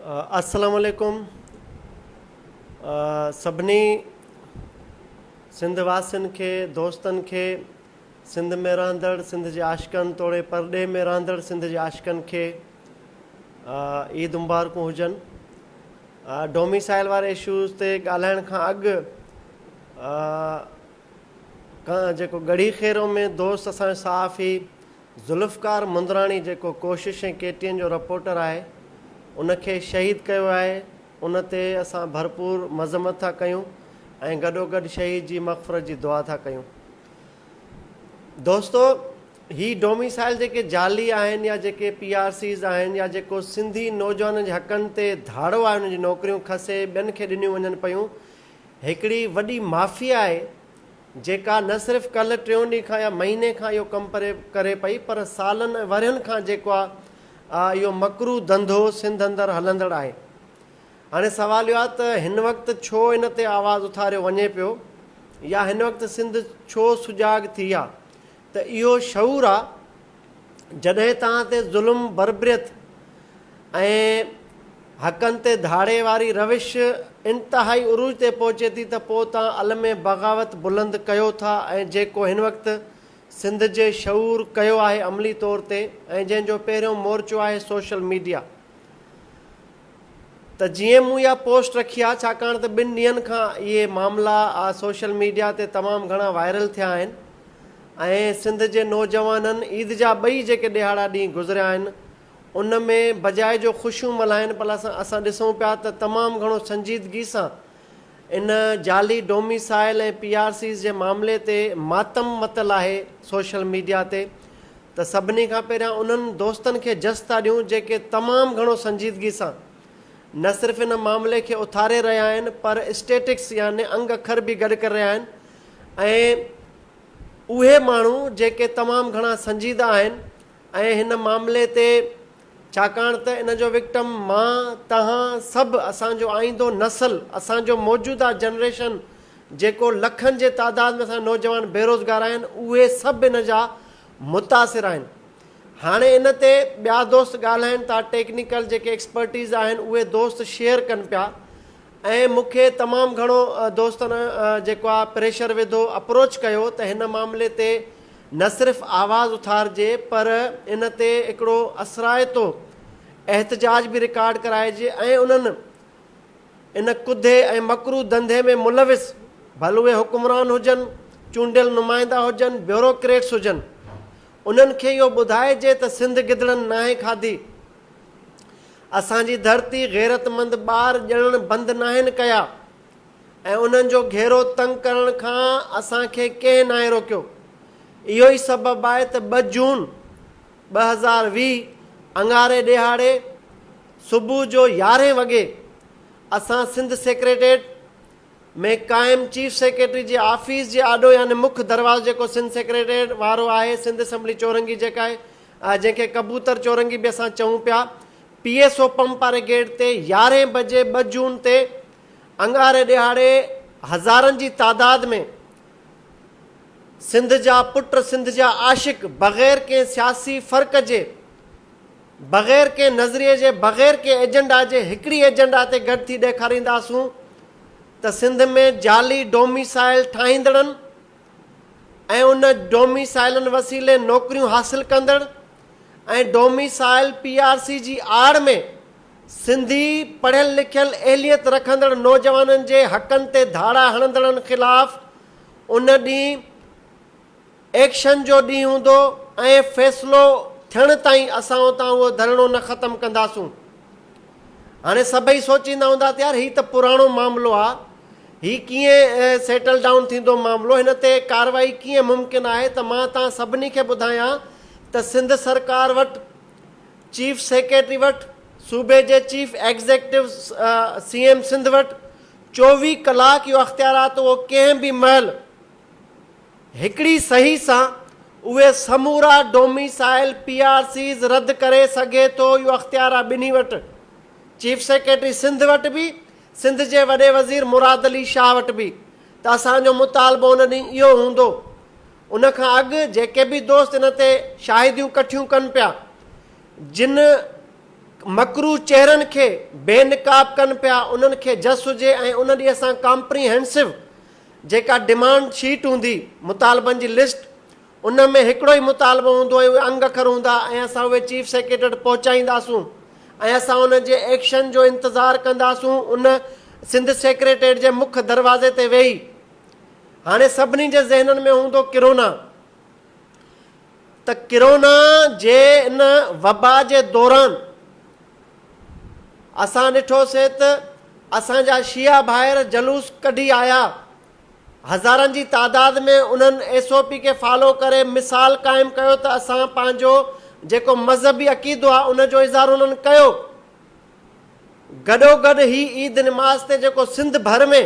السلام عليڪم سڀني سنڌ واسين کي دوستن کي سنڌ ۾ رهندڙ سنڌ جي عاشقن توڙي پرڏيهه ۾ رهندڙ سنڌ جي عاشقن کي عيد مبارڪون هجن ڊوميسائل واري اشوز تي ڳالهائڻ کان اڳ جيڪو ڳڙهي خيرو ۾ دوست اسان صحافي ذوالفقار مندراڻي جيڪو ڪوشش ۽ ڪي ٽي اين جو رپورٽر آهي ان کي شهيد ڪيو ويو آهي ان تي اسان ڀرپور مذمت ٿا ڪيون ۽ گڏوگڏ شهيد جي مغفرت جي دعا ٿا ڪيون دوستو هي ڊوميسائل جيڪي جعلي آهن يا جيڪي پي آر سيز آهن يا جيڪو سنڌي نوجوانن جي حقن تي ڌاڙو آهي انهن جي نوڪريون کسي ٻين کي ڏنيون وڃن پيون هڪڙي وڏي مافيا آهي جيڪا نه صرف ڪلهه ٽيون ڏينهن کان يا مهيني کان اهو ڪم پري ڪري پئي پر سالن ۽ ورهين کان جيڪو آ اهو مڪروه ڌنڌو سنڌ اندر هلندڙ آهي هاڻي سوال اهو آ ته هن وقت ڇو ان تي آواز اٿاريو وڃي پيو يا هن وقت سنڌ ڇو سجاڳ ٿي آ ته اهو شعور آ جڏهن توهان تي ظلم بربريت ۽ حقن تي ڌاڙي واري روش انتهائي عروج تي پهچي ٿي ته پوء توهان علم بغاوت بلند ڪيو ٿا ۽ جيڪو هن وقت سنڌ جي شعور ڪيو آهي عملي طور تي ۽ جنهن جو پهريون مورچو آهي سوشل ميڊيا ته جيئن مون اها پوسٽ رکي آهي ڇاڪاڻ ته ٻن ڏينهن کان اهي معاملا سوشل ميڊيا تي تمام گهڻا وائرل ٿيا آهن ۽ سنڌ جي نوجوانن عيد جا ٻئي جيڪي ڏهاڙا ڏينهن گذريا آهن ان ۾ بجاء جو خوشيون ملهائن پلا اسان ڏسون پيا ته تمام گهڻو سنجيدگي سان ان جعلي ڊوميسائل ۽ پي آر سيز جي معاملي تي ماتم متل آهي سوشل ميڊيا تي ته سڀني کان پهريان انهن دوستن کي جس ٿا ڏيون جيڪي تمام گهڻو سنجيدگي سان نه صرف ان معاملي کي اٿاري رهيا آهن پر اسٽيٽڪس يعني انگ اکر به گڏ ڪري رهيا آهن ۽ اهي ماڻهو جيڪي تمام گهڻا سنجيده آهن ۽ هن معاملي تي ڇاڪاڻ ته ان جو وڪٽم مان، توهان سڀ، اسان جو آئيندو نسل، اسان جو موجوده جنريشن جيڪو لکن جي تعداد ۾ اسان جا نوجوان بيروزگار آهن اهي سڀ ان جا متاثر آهن. هاڻي ان تي ٻيا دوست ڳالهائين ٿا، ٽيڪنيڪل جيڪي ايڪسپرٽيز آهن اهي دوست شيئر ڪن پيا ۽ مون کي تمام گهڻو دوستن جيڪو آ پريشر وڌو اپروچ ڪيو ته هن معاملي تي نه صرف آواز اٿارجي پر ان تي هڪڙو اثرائتو احتجاج به رڪارڊ ڪرائجي ۽ انهن ان ڪڌي ۽ مڪروه ڌنڌي ۾ ملوث ڀل اهي حڪمران هجن چونڊيل نمائندا هجن بيوروڪريٽس هجن انهن کي اهو ٻڌائجي ته سنڌ گدڙن ناهي کاڌي اسان جي ڌرتي غيرتمند ٻار ڄڻڻ بند ناهن ڪيا ۽ انهن جو گهيرو تنگ ڪرڻ کان اسان کي ڪنهن ناهي روڪيو. اهو ئي سبب آهي ته ٻه جون ٻه هزار ويهه اڱاري ڏيهاڙي صبح جو يارهين وڳي اسان سنڌ سيڪريٽريٽ ۾ قائم چيف سيڪريٽري جي آفيس جي آڏو يعني مک دروازو جيڪو سنڌ سيڪريٽريٽ وارو آهي سنڌ اسيمبلي چورنگي جيڪا آ جنهن کي ڪبوتر چورنگي به اسان چئون پيا، پي ايس او پمپ واري گيٽ تي يارهين بجي ٻه جون تي اڱاري ڏهاڙي هزارن جي تعداد ۾ سنڌ جا پٽ سنڌ جا عاشق بغير ڪنهن سياسي فرق جي بغير ڪنهن نظريي جي بغير ڪنهن ايجنڊا جي هڪڙي ايجنڊا تي گڏ ٿي ڏيکارينداسون ته سنڌ ۾ جعلي ڊوميسائل ٺاهيندڙن ۽ ان ڊوميسائيلن وسيلي نوڪريون حاصل ڪندڙ ۽ ڊوميسائيل پي آر سي جي آڙ ۾ سنڌي پڙهيل لکيل اهليت رکندڙ نوجوانن جي حقن تي ڌاڙا هڻندڙن خلاف ان ڏينهن ايڪشن جو ڏينهن هوندو ۽ فيصلو ٿيڻ تائين اسان اتان اهو ڌرڻو نه ختم ڪنداسون. هاڻي سڀئي سوچيندا هوندا ته يار هي ته پراڻو معاملو آ، هي ڪيئن سيٽل ڊائون ٿيندو معاملو، هن تي ڪارروائي ڪيئن ممڪن آهي ته مان توهان سڀني کي ٻڌايان ته سنڌ سرڪار وٽ، چيف سيڪريٽري وٽ، صوبي جي chief executive C M Sindh وٽ چوويهه ڪلاڪ اهو اختيارات اهو ڪنهن به مهل، هڪڙي صحيح سان اهي سمورا ڊوميسائيل پي آر سيز رد ڪري سگهي ٿو اهو اختيار آهي ٻنهي وٽ چيف سيڪريٽري سنڌ وٽ به سنڌ جي وڏي وزير مراد علي شاهه وٽ به ته اسان جو مطالبو ان ڏينهن اهو هوندو ان کان اڳ جيڪي به دوست ان تي شاهديون ڪٺيون ڪن پيا جن مڪروه چهرن کي بي نقاب ڪن پيا انهن کي جس هجي ۽ ان ڏي اسان ڪامپري هينسو جيڪا ڊمانڊ شيٽ هوندي، مطالبن جي لسٽ، ان ۾ هڪڙو ئي مطالبو هوندو ۽ اهي انگ اکر هوندا ۽ اسان اهي چيف سيڪريٽري وٽ پهچائينداسون ۽ اسان ان جي ايڪشن جو انتظار ڪنداسون ان سنڌ سيڪريٽريٽ جي مک دروازي تي ويهي هاڻي سڀني جي ذهنن ۾ هوندو ڪرونا ته ڪرونا جي ان وبا جي دوران اسان ڏٺو سي ته اسان جا شيعا ڀائر جلوس ڪڍي آيا هزارن جي تعداد ۾ انهن ايس او پي کي فالو ڪري مثال قائم ڪيو ته اسان پنهنجو جيڪو مذهبي عقيدو آهي ان جو اظهار انهن ڪيو گڏوگڏ هي عيد نماز تي جيڪو سنڌ ڀر ۾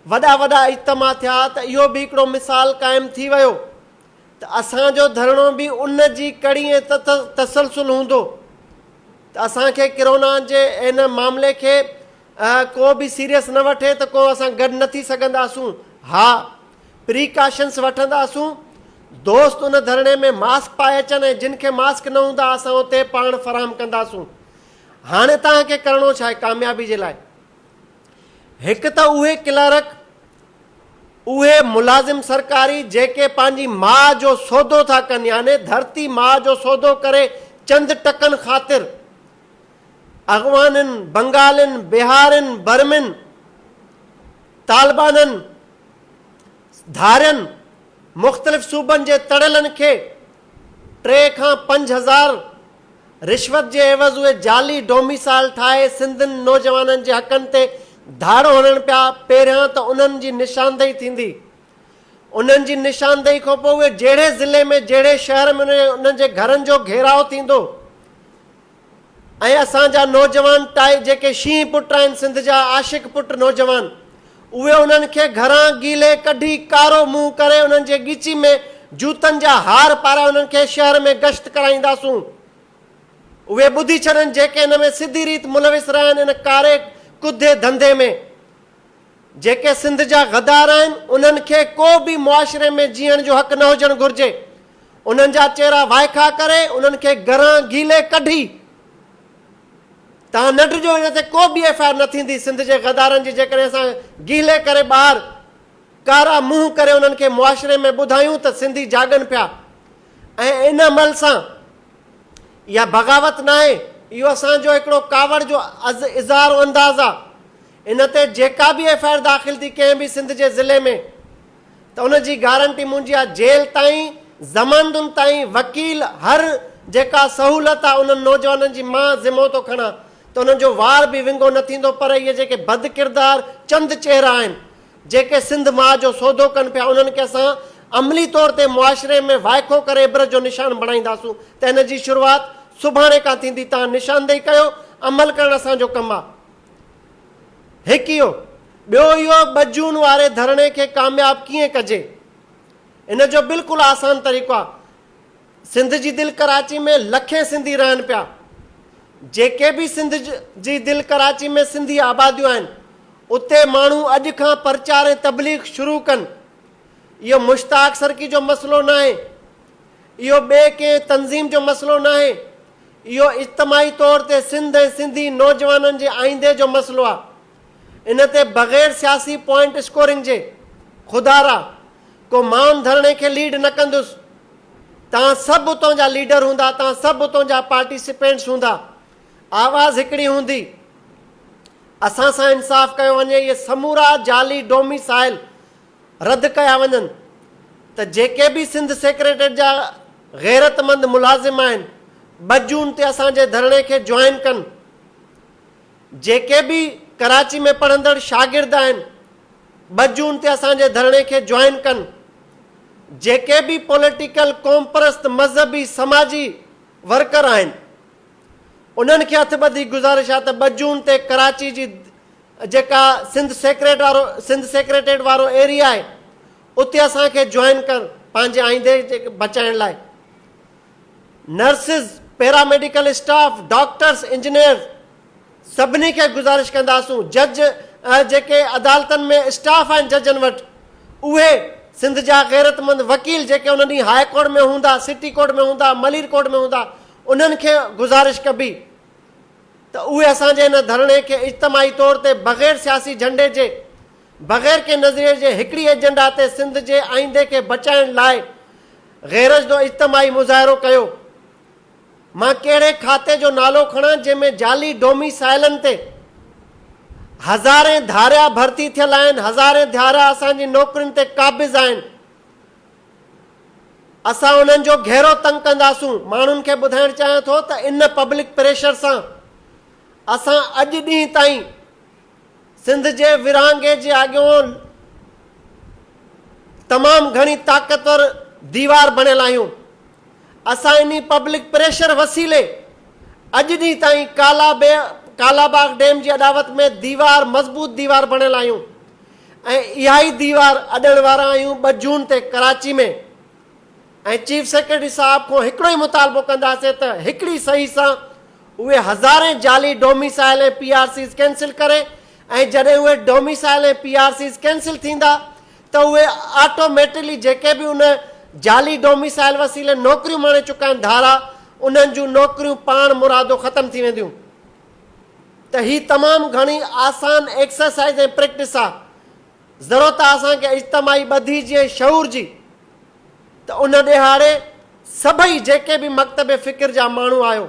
وڏا وڏا اجتماع ٿيا ته اهو به هڪڙو مثال قائم ٿي ويو ته اسان جو ڌرڻو به ان جي ڪڙي ۽ تسلسل هوندو ته اسان کي ڪرونا جي ان معاملي کي ڪو به سيريس نه وٺي ته ڪو اسان گڏ نه ٿي سگهنداسون ها پريڪاشنس وٺنداسون دوست ان ڌرڻي ۾ ماسڪ پائي اچن ۽ جن کي ماسڪ نه هوندا اسان اتي پاڻ فراهم ڪنداسون هاڻي توهان کي ڪرڻو ڇا آهي ڪاميابي جي لاء هڪ ته اهي ڪلارڪ، اهي ملازم سرڪاري جيڪي پنهنجي ماء جو سودو ٿا ڪن يعني ڌرتي ماء جو سودو ڪري چند ٽڪن خاطر اغوانن، بنگالين، بهارين، برمين، طالبانن، ڌارين، مختلف صوبن جي تڙيلن کي ٽي کان پنج هزار، رشوت جي عيوض اهي جعلي ڊوميسائل ٺاهي سنڌين نوجوانن جي حقن تي ڌاڙو هڻن پيا، پهريان ته انهن جي نشاندهي ٿيندي، انهن جي نشاندهي کان پوء اهي جهڙي ضلعي ۾ جهڙي شهر ۾ وڃن انهن جي گهرن جو گهيراء ٿيندو ۽ اسان جا نوجوان ٽائي جيڪي شينهن پٽ آهن سنڌ جا عاشق پٽ نوجوان اهي انهن کي گهران گيلي ڪڍي ڪارو منهن ڪري انهن جي ڳچي ۾ جوتن جا هار پارائي انهن کي شهر ۾ گشت ڪرائينداسون. اهي ٻڌي ڇڏن جيڪي ان ۾ سڌي ريت ملوث رهيا آهن ان ڪاري ڪڌي ڌنڌي ۾. جيڪي سنڌ جا غدار آهن انهن کي ڪو به معاشري ۾ جيئڻ جو حق نه هجڻ گهرجي. انهن جا چهرا وائکا ڪري انهن کي گهران گيلي ڪڍي. توهان نه ڊڄو هن تي ڪو ٻي ايف آء آر نه ٿيندي سنڌ جي غدارن جي جيڪڏهن اسان گيلي ڪري ٻاهر ڪارا منهن ڪري انهن کي معاشري ۾ ٻڌايون ته سنڌي جاڳن پيا ۽ ان عمل سان اها بغاوت ناهي اهو اسان جو هڪڙو ڪاوڙ جو اظهار انداز آ ان تي جيڪا به ايف آء آر داخل ٿي ڪنهن به سنڌ جي ضلعي ۾ ته ان جي گارنٽي منهنجي آ جيل تائين ضمانتن تائين وڪيل هر جيڪا سهولت آ انهن نوجوانن جي مان ذمو ٿو کڻان ته انهن جو وار به ونگو نه ٿيندو پر اهي جيڪي بد ڪردار چند چهرا آهن جيڪي سنڌ ماء جو سودو ڪن پيا انهن کي اسان عملي طور تي معاشري ۾ وائکو ڪري عبرت جو نشان بڻائينداسون ته ان جي شروعات سڀاڻي کان ٿيندي توهان نشاندهي ڪيو عمل ڪرڻ اسان جو ڪم آ. هڪ اهو، ٻيو اهو ٻه جون واري ڌرڻي کي ڪامياب ڪيئن ڪجي؟ ان جو بلڪل آسان طريقو آهي. سنڌ جي دل ڪراچي ۾ لکين سنڌي رهن پيا. جيڪي به سنڌ جي دل ڪراچي ۾ سنڌي آباديون آهن، اتي ماڻهو اڄ کان پرچار ۽ تبليغ شروع ڪن. اهو مشتاق سرڪي جو مسئلو ناهي. اهو ٻئي ڪنهن تنظيم جو مسئلو ناهي، اهو اجتماعي طور تي سنڌ ۽ سنڌي نوجوانن جي آئيندي جو مسئلو آهي. ان تي بغير سياسي پوائنٽ اسڪورنگ جي خدارا ڪو ماون ڌرڻي کي ليڊ نه ڪندس. توهان سڀ اتون جا ليڊر هوندا، توهان سڀ اتون جا پارٽيسپينٽس هوندا، آواز هڪڙي هوندي. اسان سان انصاف ڪيو وڃي، اهي سمورا جعلي ڊوميسائل رد ڪيا وڃن ته جيڪي به سنڌ سيڪريٽريٽ جا غيرتمند ملازم آهن ٻه جون تي اسان جي ڌرڻي کي جوائن ڪن جيڪي به ڪراچي ۾ پڙهندڙ شاگرد آهن ٻه جون تي اسان جي ڌرڻي کي جوائن ڪن جيڪي به پوليٽيڪل قومپرست مذهبي سماجي ورڪر آهن انهن کي هٿ ٻڌي گذارش آهي ته ٻه جون تي ڪراچي جي جيڪا سنڌ سيڪريٽ وارو سنڌ سيڪريٽريٽ وارو ايريا آهي اتي اسان کي جوائن ڪر پنهنجي آئيندي جي بچائڻ لاء nurses para medical staff doctors engineers سڀني کي گذارش ڪنداسون جج جيڪي عدالتن ۾ اسٽاف آهن ججن وٽ اهي سنڌ جا غيرتمند وڪيل جيڪي ان ڏينهن هاء ڪورٽ ۾ هوندا سٽي ڪورٽ ۾ هوندا ملير ڪورٽ ۾ هوندا انهن کي گذارش ڪبي ته اهي اسان جي ان ڌرڻي کي اجتماعي طور تي بغير سياسي جهنڊي جي، بغير ڪنهن نظريي جي هڪڙي ايجنڊا تي سنڌ جي آئيندي کي بچائڻ لاء غيرجدو اجتماعي مظاهرو ڪيو. مان ڪهڙي کاتي جو نالو کڻان جنهن ۾ جعلي ڊومي سائلن تي هزارين ڌاريا ڀرتي ٿيل آهن، هزارين ڌاريا اسان جي نوڪرين تي قابض آهن. اسان انهن جو گهرو تنگ ڪنداسون، ماڻهن کي ٻڌائڻ چاهيان ٿو ته ان پبلڪ پريشر سان اسان اڄ ڏينهن تائين سنڌ جي ورهاڱي جي آڳيون تمام گهڻي طاقتور ديوار بڻيل آهيون، اسان انهي پبلڪ پريشر وسيلي اڄ ڏينهن تائين ڪالاباغ ڊيم جي اڏاوت ۾ ديوار مضبوط ديوار بڻيل آهيون. ۽ اها ئي ديوار اڏڻ وارا آهيون ٻه جون تي ڪراچي ۾ ۽ چيف سيڪريٽري صاحب کان هڪڙو ئي مطالبو ڪنداسين ته هڪڙي صحيح سان اهي هزارين جعلي domicile ۽ P R Cs cancel ڪري ۽ جڏهن اهي domicile ۽ P R Cs cancel ٿيندا ته اهي آٽوميٽلي جيڪي به ان جعلي ڊوميسائل وسيلي نوڪريون ماڻي چڪا آهن ڌارا انهن جون نوڪريون پاڻ مرادو ختم ٿي وينديون. ته هي تمام گهڻي آسان ايڪسرسائيز ۽ پريڪٽس آ. ضرورت آ اسان کي اجتماعي ٻڌي جي ۽ شعور جي ته ان ڏيهاڙي سڀئي جيڪي به مڪتب فڪر جا ماڻهو آهيو،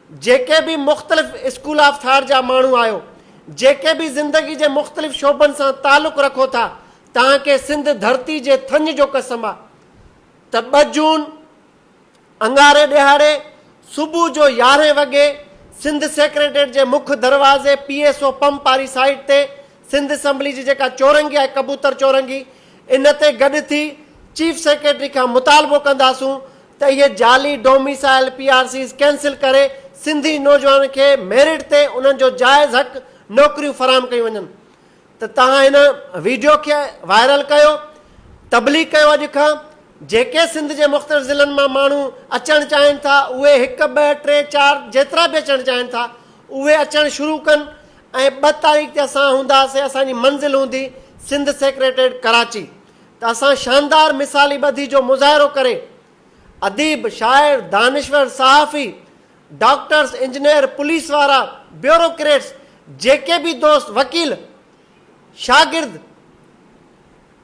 جيڪي به مختلف اسڪول آف ٿاٽ جا ماڻهو آهيو، جيڪي به زندگي جي مختلف شعبن سان تعلق رکو ٿا توهان کي سنڌ ڌرتي جي ٿڃ جو قسم آ ته ٻه جون، اڱاري ڏهاڙي صبح جو يارهين وڳي سنڌ سيڪريٽريٽ جي مک دروازي پي ايس او پمپ واري سائيٽ تي سنڌ اسمبلي جي جيڪا چورنگي آهي ڪبوتر چورنگي ان تي گڏ ٿي چيف سيڪريٽري کان مطالبو ڪنداسون ته اهي جعلي domicile P R Cs cancel ڪري سنڌي نوجوانن کي ميرٽ تي انهن جو جائز حق نوڪريون فراهم ڪيون وڃن. ته توهان هن ويڊيو کي وائرل ڪيو تبليغ ڪيو اڄ کان جيڪي سنڌ جي مختلف ضلعن مان ماڻهو اچڻ چاهين ٿا اهي هڪ ٻه ٽي چار جيترا به اچڻ چاهين ٿا اهي اچڻ شروع ڪن ۽ ٻه تاريخ تي اسان هونداسين اسان جي منزل هوندي سنڌ سيڪريٽريٽ ڪراچي ته اسان شاندار مثالي ٻڌي جو مظاهرو ڪري اديب شاعر دانشور صحافي ڊاڪٽرس، انجنيئر، پوليس وارا، بيوروڪريٽس، جيڪي به دوست، وڪيل، شاگرد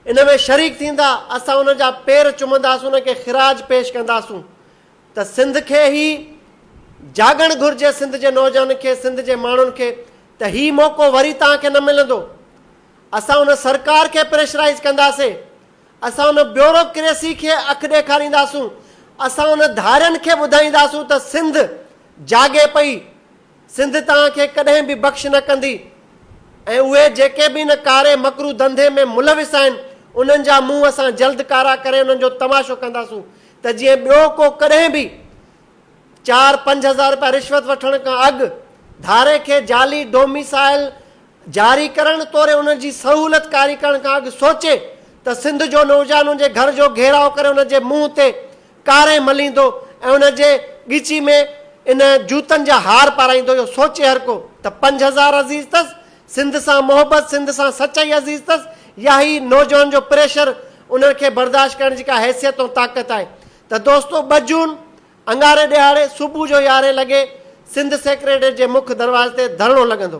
ان ۾ شريڪ ٿيندا، اسان انهن جا پير چمنداسون، انهن کي خراج پيش ڪنداسون ته سنڌ کي هي جاڳڻ گهرجي، سنڌ جي نوجوانن کي، سنڌ جي ماڻهن کي ته هي موقعو وري توهان کي نه ملندو. اسان ان سرڪار کي پريشرائيز ڪنداسين، اسان ان بيوروڪريسي کي اک ڏيکارينداسون، اسان ان ڌارين کي ٻڌائينداسون ته سنڌ جاڳي پئي، سنڌ توهان کي ڪڏهن به بخش نه ڪندي ۽ اهي جيڪي به ان ڪاري مڪروه ڌنڌي ۾ ملوث آهن انهن جا منهن اسان جلد ڪارا ڪري انهن جو تماشو ڪنداسون ته جيئن ٻيو ڪو ڪڏهن به چار پنج هزار رپيا رشوت وٺڻ کان اڳ ڌاري کي جعلي ڊوميسائل جاري ڪرڻ توڙي ان جي سهولت ڪاري ڪرڻ کان اڳ سوچي ته سنڌ جو نوجوان ان جي گهر جو گهيراء ڪري ان جي منهن تي ڪاري مليندو ۽ ان جي ڳچي ۾ ان جوتن جا هار پارائيندو اهو سوچي هر ڪو ته پنج هزار عزيز اٿس سنڌ سان محبت سنڌ سان سچائي عزيز اٿس يا هي نوجوان جو پريشر انهن کي برداشت ڪرڻ جي ڪا حيثيت ۽ طاقت آهي ته دوستو ٻه جون اڱاري ڏهاڙي صبح جو يارهين لڳي سنڌ سيڪريٽريٽ جي مک دروازي تي ڌرڻو لڳندو.